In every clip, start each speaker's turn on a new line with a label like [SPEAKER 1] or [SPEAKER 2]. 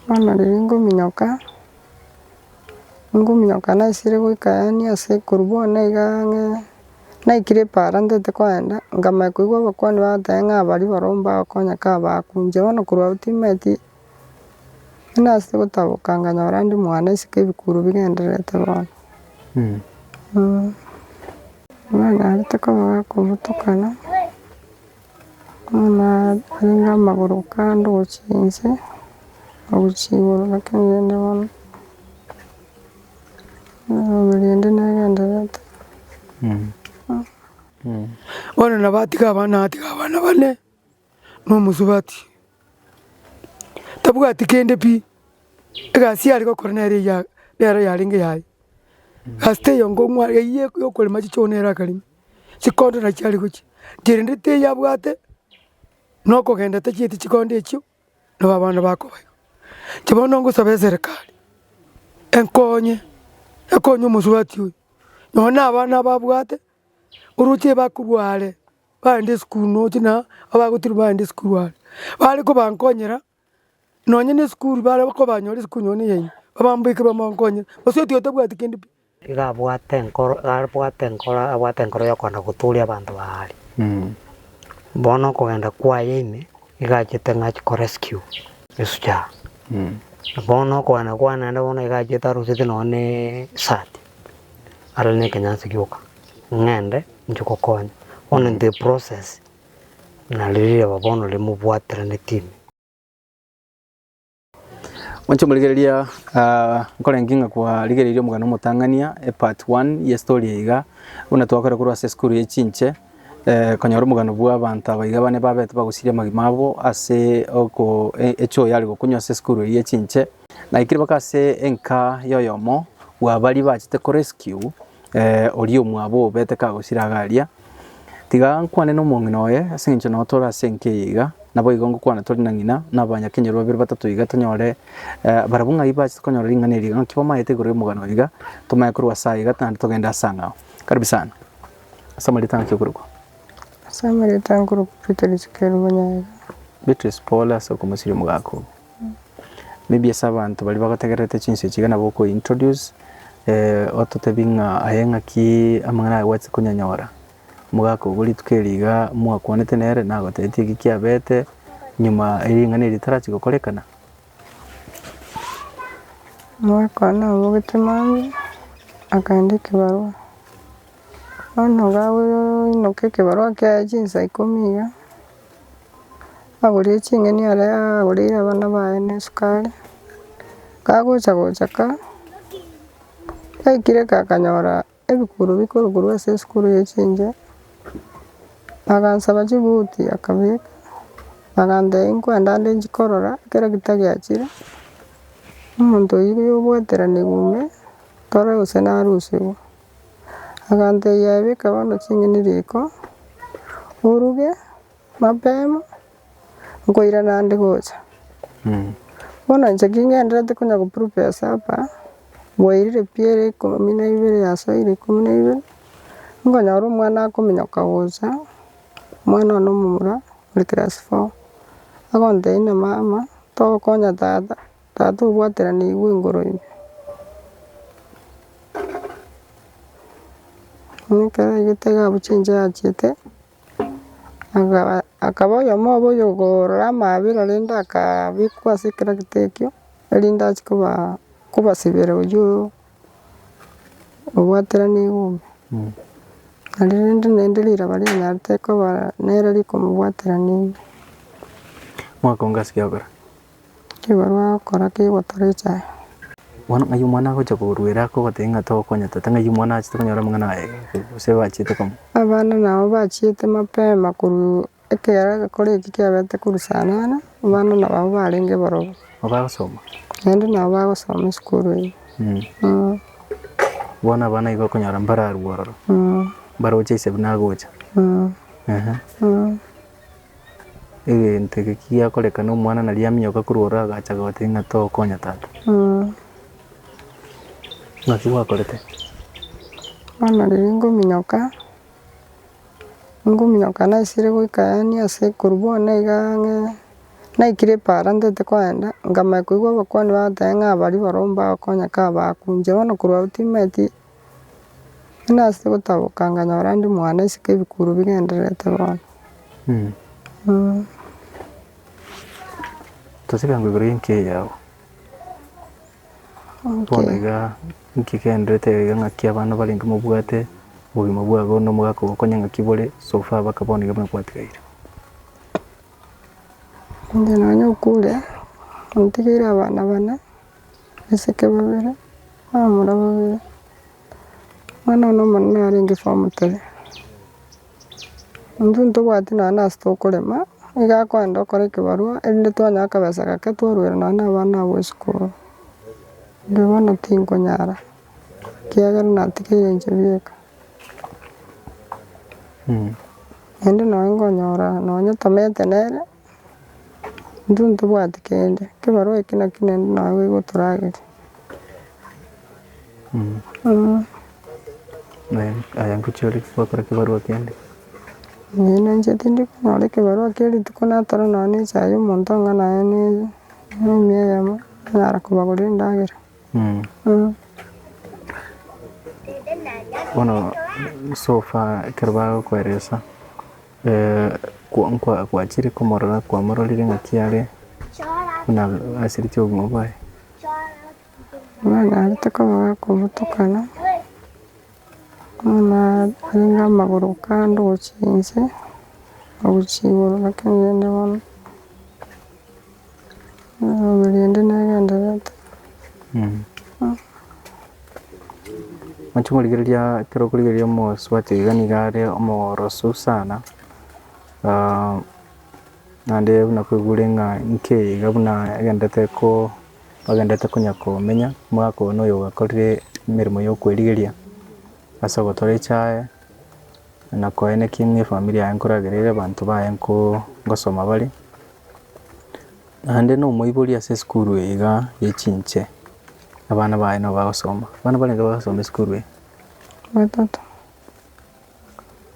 [SPEAKER 1] Bono riria ngominyoka, ngominyoka naisire goika yaani ase korwa bono igaa ng'a naikire epaara ntete kogenda, nkamanya koigwa abakwania bagoteeba ng'a baria barobwo mbagokonya ka baakwa inche bono korwa abwo timanyeti, riria nase gotaboka nkanyora ndi mwane isiko ebikuro bigendererete bono bono narete koba gakomotukana. Bono arenge amagoro kando gochia inse, agochia igoro naki ngende bono, erinde negendererete.
[SPEAKER 2] Bono nabo atiga abana atiga abana bane na omosubati, tabwati kende pi, egasi yare gokora nere eyia nero yarenge yaye, egasi teyio ngokwa eyio yokorema chichogo nero akarema. chikondo nachio are gochia, kerende teiyo abwate na okogenda atachieti chikondo echio, nabo abana bakoba igo. Inche bono ngosaba eserekari, enkonye, ekonye omosubati oyo, nonya abana aba abwate, oroche ebakorwa are, baende esukuru nonya abagotira baende esukuru are, bare kobankonyera. Nonye nesukuru bare kobanyore ase konywa ne yaino, babambeke bamokonyere, gose otiga otabwati kende pi. Iga abwate
[SPEAKER 3] enkoro abwate enkoro abwate enkoro y'okogenda gotooria abanto ba aria. Bono okogenda kwaye ime, iga achete ng'a achi korescue esuguru. Bono okogenda kwane naende bono iga achete arosete nonye na eshirt, arore na ekenyasi gioka, ng'ende inche gokonya. Bono intwe eprocess. Nari riaba bono rimobwataraneti ime.
[SPEAKER 4] Monche morigereria nkorenge ng'a kwarigereirie omogano omotang'ania epart one ye story eye iga, buna twakore korwa ase esukuru ye chinche konyora omogano bwa abanto aba iga bane babete bagosiria amagima abo ase oko echuo yare gokunywa ase esukuru eye ye chinche. Naikire baka ase enka ya oyomo bwa baria bachete ko rescue. oria omwabo obe tekagosira iga aria, tiga nkwane nomong'ina oye, ase eng'encho nao tore ase enka eye iga, naboigo ngokwana tore na ng'ina, na abanyakenyoro babere batato iga tonyore barabwo ng'ai bachete konyora ring'ana eri iga, naki bamaete igoro y'omogano oyo iga, tomaye korwa ase aye iga naende togende ase ang'ao. Karibu sana. Ase amaretang'a naki okorokwa? Ase
[SPEAKER 1] amaretang'a nkorokwa Beatrice Kerubo Nyaga. Beatrice
[SPEAKER 4] pole ase okomosiria omogaka oo. Maybe ase abanto baria bagotegererete chinse chiga nabo oko introduce ototebie ng'a aye ng'aki amang'ana aya gwachete konyanyora. Omogaka obo rituko eri iga mwakwanete nere nagotebetie eki kiabete nyuma eri ring'ana eri ritarachi gokorekana.
[SPEAKER 1] Omogaka one nabogete mambia akaenda ekebarua. Bono iga akoinyoka ekebarua kiaye chinsa ikomi iga. Agorie ching'eni are agoreire abana baye ne esukari, kagocha gocha ka, gaikire ka akanyora ebikuro bikorukorwa ase esukuru ye chinche, agansaba chibuti akabeka, agantebia nkwenda nde nchi korora ekero gitagiachire, omonto oyio oyogoeteranigwa ime, tore gose narusigwe. Agantebia, Beka bono ching'eni riko, oruge mapema, nkoirana ande gocha. Bono inche king'enderete konya go prepare supper, bwairire pi ere ikomi na ibere yasoire ikomi na ibere, nkonyora omwana akominyoka gocha, omwana one omomura ore class four, agontebia ng'a mama, togokonya tata. Tata obwateranigwe igoro ime. Buna ekero aigete iga abuche inche achiete, agaba akaba oyomo obo oyokorora amabera rende akabekwa ase etractor ekio erinde achi koba kobasibera oyio obwateranigwe ime. Nario rende naende riraba rianyarete koba nere rikomobwaterania ime.
[SPEAKER 4] Mwaka onga ase kiagokera. Ekebarua
[SPEAKER 1] agokora kegotora echaye. Bono ng'ai
[SPEAKER 4] omwana agocha koruera akogotebia ng'a togokonya tata, ng'ai omwana achete konyora omong'ina oye gose bachete komo. Abana nabo
[SPEAKER 1] bachiete mapema korwa ekero egekore eki kiabete korwa saa nane, abana nabo abwo barenge barobwo. Nabo bagosoma.
[SPEAKER 4] Naende nabo
[SPEAKER 1] bagosoma esukuru eye.
[SPEAKER 4] Bono abana nigo okonyora mbararue ororo. Mbaroche ase buna agocha. egento eke kiakorekana omwana naria aminyoka korwa ororo agacha agotebi ng'a tokonya tata. Naki gwakorete?
[SPEAKER 1] Bono riria ngominyoka, ngominyoka naisire goika yaani ase korwa bono iga ang'e, naikire para ntete kogenda, nkamanya koigwa abakwania bagotebi ng'a abaria barobwo mbagokonya ka bakunche bono korwa abwo timanyeti. Nase gotaboka nkanyora ndi mwane isiko ebikuru bigendererete bono mm.
[SPEAKER 4] Tosibia ngwa igoro y'enka eye yao. Bono iga inki egendererete iga iga ng'aki abana barenge mobwate obogima bwabo na omogaka ogo okonye ng'aki bore so far mpaka bono iga buna kwatigaire?
[SPEAKER 1] Inche nonye okure, ntigeire abana bane. Abaseke babere, abamura babere, omwana one omonene arenge form three. Intwe ntobwati nonya nase tokorema, nigo akoenda okore ekebarua erinde twanyore akabesa gake twaruere nonya na abana abwo esukuru. Inde bono tinkonyara, ekiagera natigeire inche bieka. Naende nonya nkonyora nonya tomanyete nere, Intwe ntobwati kende, ekebarua eke naki nende naye igo toragerie.
[SPEAKER 4] Aye ngochia ore gokora ekebarua kende? Ee
[SPEAKER 1] nanche tindi konyora ekebarua kia rituko natore nonya na echae ya omonto onga naye ne enomi eyemo nanyara kobagoria endagera.
[SPEAKER 4] Bono so far ekero bagokoeresa. Kwachire komorora kwamororire ng'aki are buna asireti obogima bwaye. Nararete
[SPEAKER 1] komorora komotukana bono narenge amagoro kando gochia inse na gochia igoro naki ninde bono. Erinde nagendererete.
[SPEAKER 4] Inche korigereria ekero okorigereria omosubati iga nigo are omoroso sana, naende buna kwegure ng'a inki eye iga buna agenderete ko agenderete konya komenya omogaka one oyo ogakorire emeremo ya okwerigeria ase ogotora echaye na koeneki ng'a efamiri yaye nkoragere abanto baye nko ngosoma bare. Naende nomoibori ase esukuru eye iga ye chinche, abana baye nigo bagosoma, abana barenge bagosoma esukuru eye? Batato.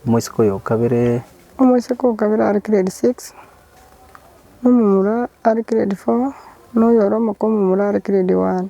[SPEAKER 4] Omosika oyo okabere? Omosika okabere
[SPEAKER 1] are grade six, omomura are grade four, noyo ore omokong'u momura are grade one.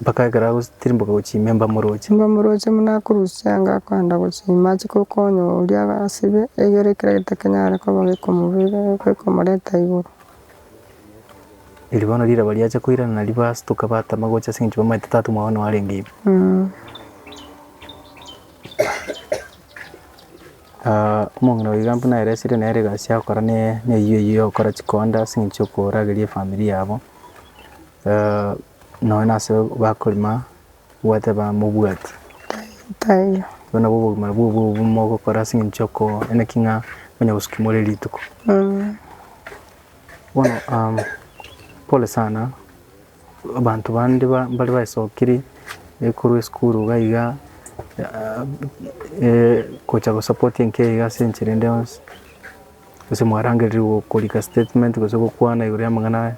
[SPEAKER 4] mpaka ekero agotirimboka gochia ime mbamoroche. Mbamoroche buna akorusia anga akoenda gochia ime ache gokonya oria asibe egere ekero getakenyare koba gekomobera gekomoreta igoro. Eri bono riraba riacha koirana nario bastoka batama gocha aseng'encho bamaete tata omwabo nao arenge ime. omong'ina oiga buna ere esire nere egasi agokora ne eyio eyio ya gokora chikonda ase eng'encho ya korageria efamiri yabo, nonya na ase bakorema gwateba mobwati
[SPEAKER 1] obwo nabwo obogima
[SPEAKER 4] bwa obobe mogokora ase eng'encho ya ko manya ki ng'a onye gosuka imori rituko bono pole sana. Abanto bande mbare baesokiri korwa esukuru iga iga gocha gosapoti enka eyio ase enchera ende yonsi, gose mwarangereria korika statement gose gokwana igoro y'amang'ana aya.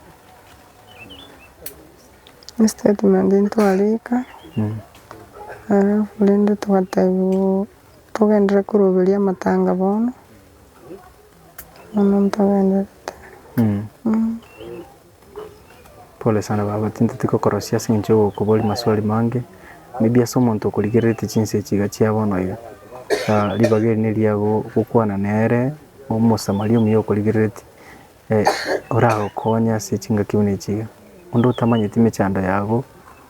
[SPEAKER 1] Statement ntwarika alafu rende twatebwa togenderere koroberia amatanga bono, bono ntogenderete.
[SPEAKER 4] Pole sana baba, tinteti gokorosia ase eng'encho y'ogokoboria maswali mange, maybe ase omonto okorigereretie chinsa echi iga chia bono iga, ah ribaga eri neriaye go- gokwana nere omosamaria omuya okorigereretie, oragokonye ase chingaki buna echi iga. Onde otamanyeti emechando yabo,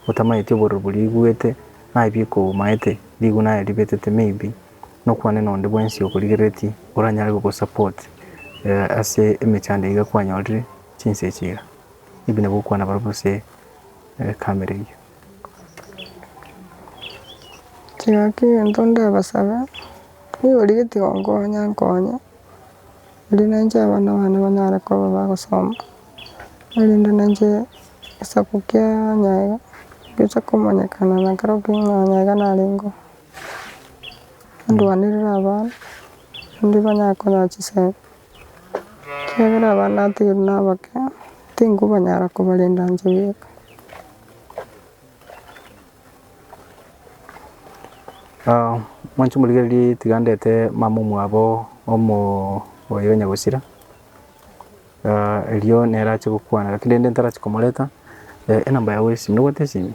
[SPEAKER 4] otamanyeti obororo boria oigwete, naye bikogomaete, riguna aye ribetete maybe, nokwane na onde bwensi okorigereretie, oranyare gogo support ase emechando iga kwanyorire. chinsa echi iga. Ebi nabio okwana barobwo ase egekamererio.
[SPEAKER 1] Kegaki egento ndabasabe, nigo origeti gonkonya nkonye, eri nainche abana bane banyare koba bagosoma, erinde nainche egesaku kiaanya iga giocha komanyekana na ekero kiaanya iga narenge oo. Ndwanere abana, naende banyare konya chisemi. Ekiagera abana ateirwe nabake, tinkobanyara kobarenda inche bweka.
[SPEAKER 4] Mwanche morigererie tiga ndete mama omwabo omoyo o nyagusira, erio nere ache gokwana, lakini rende ntarachi komoreta, enamba yago ya esimi, nobwate esimi?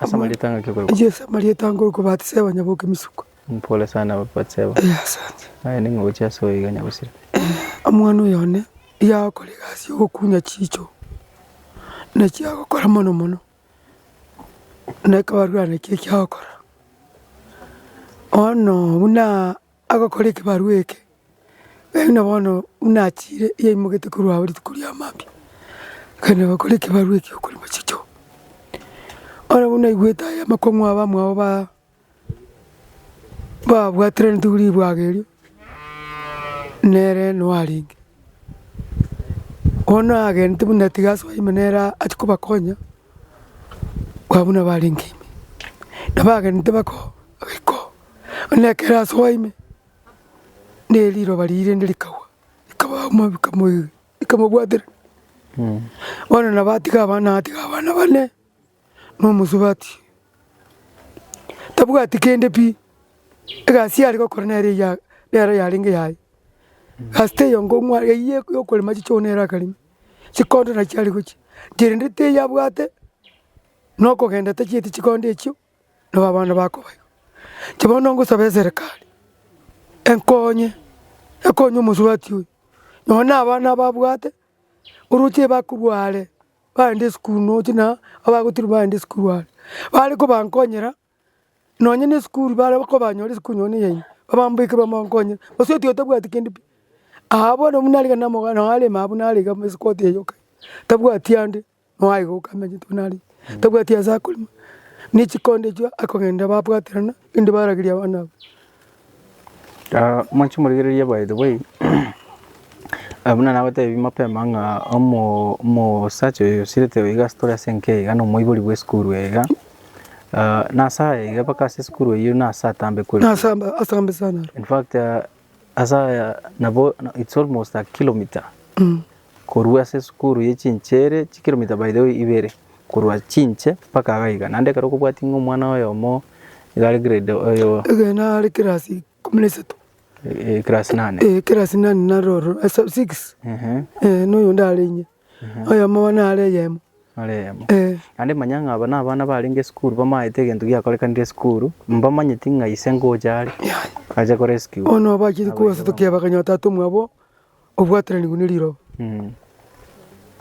[SPEAKER 4] Ase amarieta angaki okorokwa? Inche ase amarieta nkorokwa
[SPEAKER 2] Batiseba nyaboke misuko. Pole sana
[SPEAKER 4] Batiseba. Eh, asante. Aye
[SPEAKER 2] ning'o gochia ase
[SPEAKER 4] oyo iga nyagosire? Eh, omwana oyo
[SPEAKER 2] one yagokora egasi ya ogokunya chicho, na chiagokora mono mono, na ekebarurana ekio ekiagokora. Bono buna. Agokora ekebarua eke, naende bono buna achiire yaimoketie korwa ao rituko ria mambia, akaenda agakora ekebarua ekio okorema chichoo. Bono buna aigwete aya amakong'u aba mwabo ba babwatereneti ribwaga erio, nere no arenge. Bono agenete buna tiga asoe ime nere achia kobakonya. Kwa buna barenge ime, na bagenete bako riko, onye ekero ase oa ime, ne riroba riria rinde rikagwa, rikaba mo rikamoiga rikamobwatera. Bono nabo atiga abana natiga abana bane, na omosubati, tabwati kende pi, egasi yare gokora nere eya nero yarenge yaye, egasi teyio ngokwa eyio yokorema chichoo nere akarema. chikondo nachio are gochia, kerende teiyo abwate na okogenda tachieti chikondo echio, nabo abana bakoba igo. Inche bono ngosaba eserekari, enkonye, ekonye omosubati oyo, nonya abana aba abwate, oroche ebakorwa are, baende esukuru nonya abagotira baende esukuru are, bare kobankonyera. Nonye nesukuru bare kobanyore ase konywa ne yaino, babambeke bamonkonyere, gose otiga tabwati kende pi, aa bono buna arenge namoga noo arenge aa buna arenge amo esikote eye yoka, tabwati ande noo aye goka amo egento buna arenge, tabwati ase akorema, ne chikonde echio akogenda babwaterana, rende barageria abana abwo.
[SPEAKER 4] Mwanche morigereria by the way, buna nabatebirie mapema ng'a omosacha oyo osirete oo iga ase tore ase enka iga na omoibori bwa esukuru eye iga, na ase aya iga mpaka ase esukuru eyio na ase atambe kore.
[SPEAKER 2] In fact
[SPEAKER 4] ase aya nabo it's almost a kilometre. Korwa ase esukuru ye chinche ere chikiromita by the way ibere korwa chinche mpaka iga iga naende ekero okobwati ng'a omwana oyomo iga are grade oyo Egena are class
[SPEAKER 2] ikomi na isato. eh, class
[SPEAKER 4] nane Eh class nane nare ororo
[SPEAKER 2] ase six ehe eh na oyonde are inye. Oyomo bono are eyemo. are eyemo. Eh.
[SPEAKER 4] Naende manya ng'a aba nabana barenge esukuru bamaete egento giakorekanire esukuru mbamanyeti ng'a ise ngocha are ache korescue. Bono nabacheti kobasotokia
[SPEAKER 2] bakanyora tata omwabo obwatananigwe ne riroba,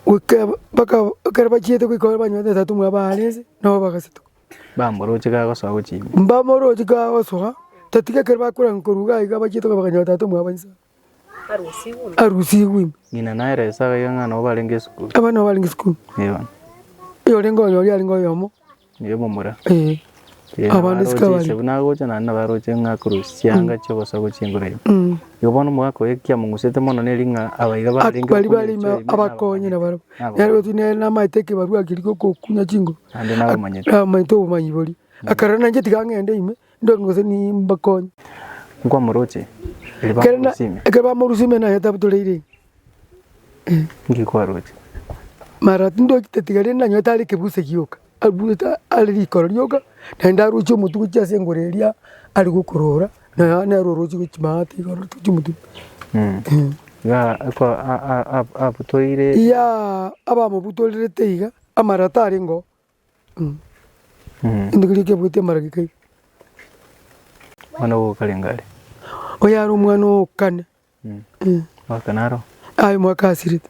[SPEAKER 2] goika bakaba ekero bachiete goika bare banywanete otato omwabo aare nse, nabo bagasetuka. Bamoroche
[SPEAKER 4] kagosoa gochia ime. Mbamoroche kagosoa,
[SPEAKER 2] otatiga ekero bakorwa ng'a korwa iga iga bachiete goika bakanyora otato omwabo inse arusigwe ime. Ng'ina nere ase agaiga
[SPEAKER 4] ng'a nabo barenge esukuru. Abana nabo barenge esukuru.
[SPEAKER 2] Eeh bono. Oyorenge onyori arenge oyomo. Yebomura.
[SPEAKER 4] Eh. Ee, Abande nabaroche
[SPEAKER 2] sika bari. esebu nagocha naende nabaroche
[SPEAKER 4] ng'a korwa chianga chiobosa gochia engoro ime. Mm. Igo bono omogaka oye ekiamong'usete mono neri ng'a abaiga barenge Bari okunya bari ebichwa ime ebio
[SPEAKER 2] abakonye na barabwo. Nabo Nere goti nere namaete ekebarua keria giokokunya chinguru. Naende nabamanyete.
[SPEAKER 4] Namanyete obomanyi boria.
[SPEAKER 2] Akarora nainche tiga ng'ende ime, Ndonge gose nimbakonye. Nkwamoroche,
[SPEAKER 4] erio Ekero na- bamorusimia.
[SPEAKER 2] ekero bamorusia ime naye tabutoreire Eh, Inki
[SPEAKER 4] kwaroche? mara
[SPEAKER 2] tindochi tatiga rende nanyore tare ekebuse gioka abuete are rikoro rioka naende ndaroche omotuko gochia ase engoro eria are gokorora naye nere oroche gochi maate iga oroche gochia omotuko Mm. Eh.
[SPEAKER 4] Iga ako a- a- a- abutoire. Iyaa
[SPEAKER 2] abamobutorerete iga amara tarenge oo. Omwana
[SPEAKER 4] ogo okarenge are. Oyare
[SPEAKER 2] omwana oo kane. Mwaka
[SPEAKER 4] naro. Aye mwaka
[SPEAKER 2] asirete.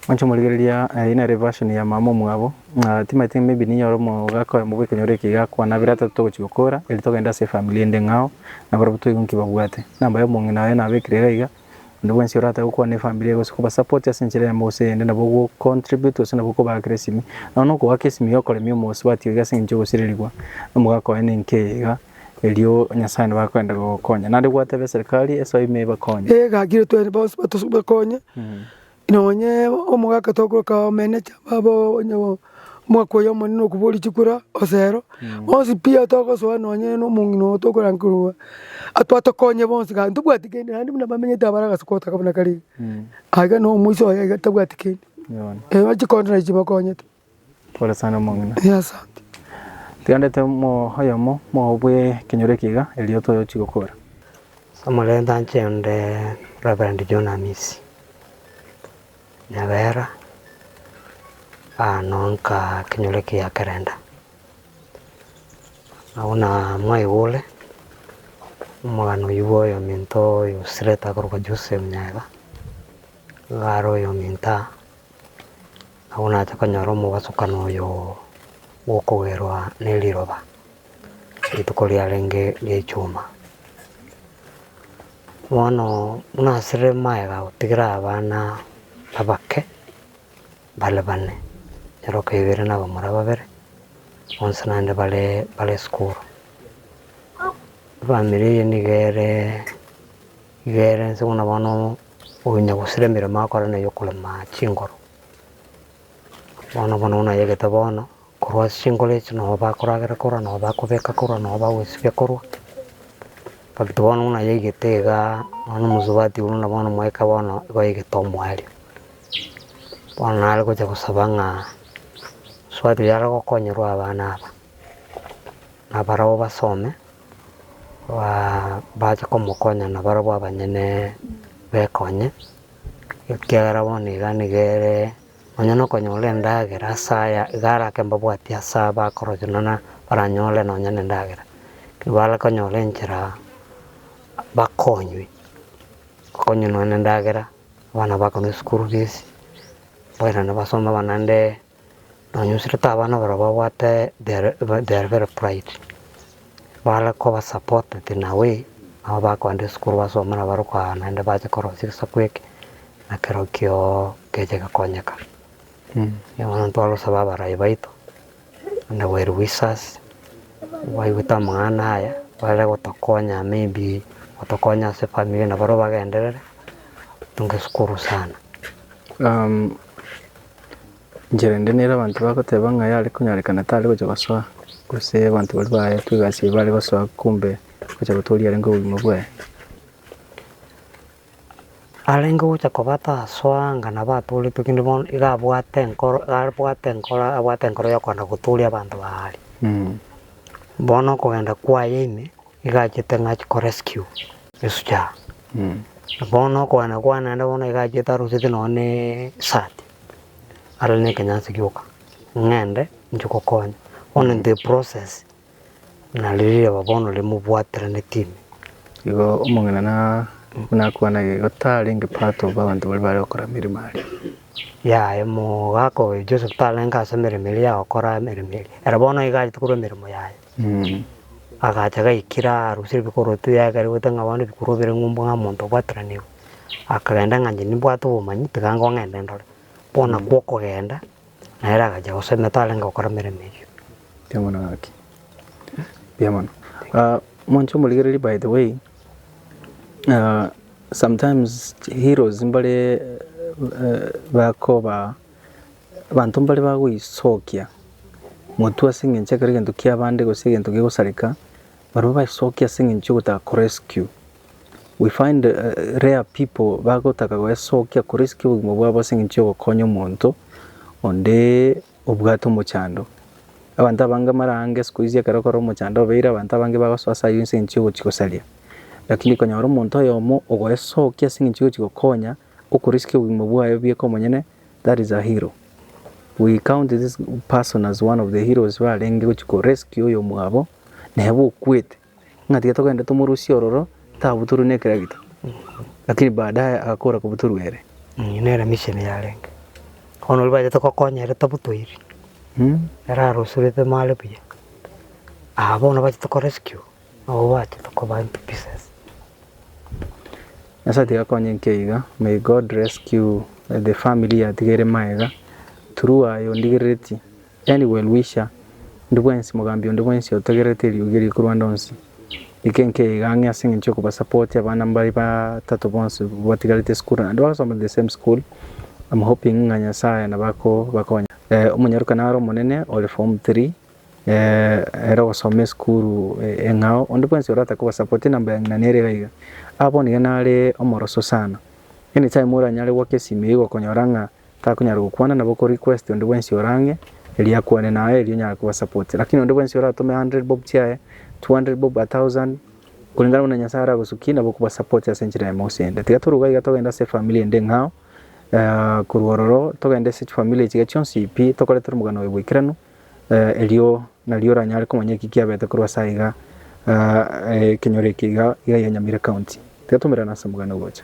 [SPEAKER 4] Mwanche morigereria eye nere version ya mama omwabo ng'a timanyete maybe ninyore omogaka oye mbogete nyore eke gakwanabire ata togochi gokora eri togende ase efamiri ende ng'ao nabarabwo toigwe nki babwate. Namba ya omong'ina oye nabekire iga iga Onde bwensi oratae gokwana efamiri gose koba support ase enchera eyemo gose eyende nabo ogo contribute gose nabo okobaakera esimi. Nonya na okogoaka esimi yokoremia omosubati oiga ase engencho ogosirerigwa nomogaka oye ninki eye iga, erio Nyasaye nabo akoenda gogokonya. Naende gwateba eserikari esoe ime ebakonye. Ee gaki rituaini bonsi
[SPEAKER 2] batusu bekonye Nonye omogaka tokorokwa abamenecha babo onye omwaka oyo omonene okoboria chikura osero bonsi pi togosoa nonye omong'ina oo tokorandia korwa atwatokonye bonsi gaki tobwati kende naende buna bamenyete abare agase gotaka buna kare iga. Aiga nomoisa oye iga tabwati kende, erio chikondo nario chibakonyete.
[SPEAKER 4] Tiganderete oyomo mwao bwe ekenyoro eke iga, erio tochi gokora. Samore
[SPEAKER 3] tanche onde Reverend John Amisi Nyabera anoonka ekenyoro eke gia kerenda. Nabo na mwaigure omogano oyio bwa oyominto oyo osirete akorokwa Jose Munyaga, nigo are oyominto aa. Nabo nache konyora omogwasokano oyo bw'okogerwa neriroba, rituko riarenge ri'echuma. Bono buna asire magega gotigira abana abake bare bane, nyeroka ibere na abamura babere, bonsi naende bare bare sukuru. Efamiri eye niga ere iga ere nse buna bono. Onya gosira emeremo akore na yokorema chingoro. Bono bono buna ayegete bono, korwa ase chingoro echi nao bakoragera korwa nao bakobeka korwa nao bagosibia korwa. But bono buna ayegete igaa bono omosubati buna bono mwaika bono igo ayegete omwario. Bono nare gocha gosaba ng'a omosubati oyo are gokonyorwa abana aba, nabarabwo basome. bache komokonya nabarabwo abanyene bekonye, ekiagera bono iga nigo ere nonya na okonyora endagera ase aya iga arake mbabwatie ase aya bakorochonana baranyore nonya na endagera, bare konyora enchera bakonywe, bakonywe nonya na endagera, abana bakonwe school fees, abana basome naende. Nonya osirete abana barabwo babwate their very pride, bare koba supported in a way, nabo bakoenda esukuru basome nabo bare koa naende bache korosia egesaku eke, na kerokio keche gekonyeka. Erio bono ntware gosaba abarai baito, and the well wishers, baigwete amang'ana aya, bare gotokonya maybe gotokonya ase efamiri eye, nabarabwo bagenderere, totunge esukuru sana.
[SPEAKER 4] Enchera ende nere abanto bagoteba ng'a yare konyarekana tare gocha gosoa, gose abanto baria baetwe egasi eye bare gosoa kumbe gocha gotooria arenge obogima bwaye.
[SPEAKER 3] Arenge gocha koba tasoa anga nabo atooretwe kende bono iga abwate enkoro iga abwate enkoro abwate enkoro ya okoenda gotooria abanto ba aria. Bono okogenda kwaye ime, iga achete ng'a achi korescue. Esucha, na bono okogania kwane naende bono iga achete arochete nonye na esati, are na ekenyasi gioka, ng'ende inche gokonya, bono into eprocess buna riria riaba bono riria mobwateraneti ime. Igo
[SPEAKER 4] omong'ina na buna akwana igo tarenge part of abanto baria bare gokora emeremo aria. Yaya
[SPEAKER 3] omogaka oyo Joseph tarenge ase emeremo eria ya gokora emeremo eria, ere bono iga achete korwa emeremo yaye. Agacha gaikire arosire ebikoroto yaikare goita ng'a bono ebikorwa bire ng'umbu ng'a omonto obwateraneirwe, akagenda ng'a inche nimbwate obomanyi tiga ngonye ng'ende ndore, bono nakwo okogenda nere agacha gosomia tarenge gokora emeremo eyio. Mbuya mono gaki,
[SPEAKER 4] mbuya mono. Ah monto omorigereri by the way, sometimes heroes mbare bakoba. Abanto mbare bagoisokia motwe ase engencho ekero egento kia abande gose egento gegosareka, barabwo baesokia ase engencho yogotaka ko rescue. We find rare people bagotaka goesokia ko rescue obogima bwabo ase engencho yogokonya omonto onde obwate omochando. Abanto abange mbare ange sikuizi ekero okora omochando obeire abanto abange bagosoa ase ayio ase engencho yogochi gosaria. Rakini konyora omonto oyomo ogoesokia ase engencho yogochi gokonya. Okorisikia obogima bwaye bieka omonyene, that is a hero. We count this person as one of the heroes barenge gochia ko rescue oyomwabo neba okwete. Ng'a tiga togende tomorusie ororo tabutorwe ne ekeragita. Lakini baadaye agakora kobutorwa ere. Eyio nere mission
[SPEAKER 3] yarenge. Bono oria bachete gokonya ere tabutoiri. Ere arosurete mare buya. Aba bono bachete ko rescue. Nabo bachete koba into pieces.
[SPEAKER 4] Nyasae tiga akonye inke iga may God rescue the family yatigaire magega through aye ondigerereti any well wisher ndi bwensi mogambi onde bwensi otegererete eriogi eri korwa ande onsi ike inke iga ang'e ase eng'encho yokoba support abana mbare batato bonsi batigarete esukuru naende bagasoma the same school am hoping ng'a Nyasae nabo akobakonya. Omonyaroka naro omonene ore form three. Ere ogosoma esukuru eng'ao onde bwensi ore atake kobasapoti number yang'ina nere iga iga. Aa bono iga nare omoroso sana. Any time oranyare goaka esimi eywo igokonyora ng'a takonyara gokwana nabo oko request onde bwensi ore ang'e erio akwane naye erio onyare kobasapota. Lakini onde bwensi oratome hundred bob chiaye, two hundred bob, a thousand kulingana buna Nyasaye aragosukie nabo okobasapota ase enchera ime gose ende. Tiga toroba iga togende ase efamiri ende eng'ao korwa ororo togende ase chifamiri echiga chionsi pi tokorete omogano oye bwaikeranu. Erio nario oranyare komanya eki kiabete korwa ase aiga, ekenyoro eke iga iga ya Nyamira County. Tiga tomerane ase omoganda ogocha.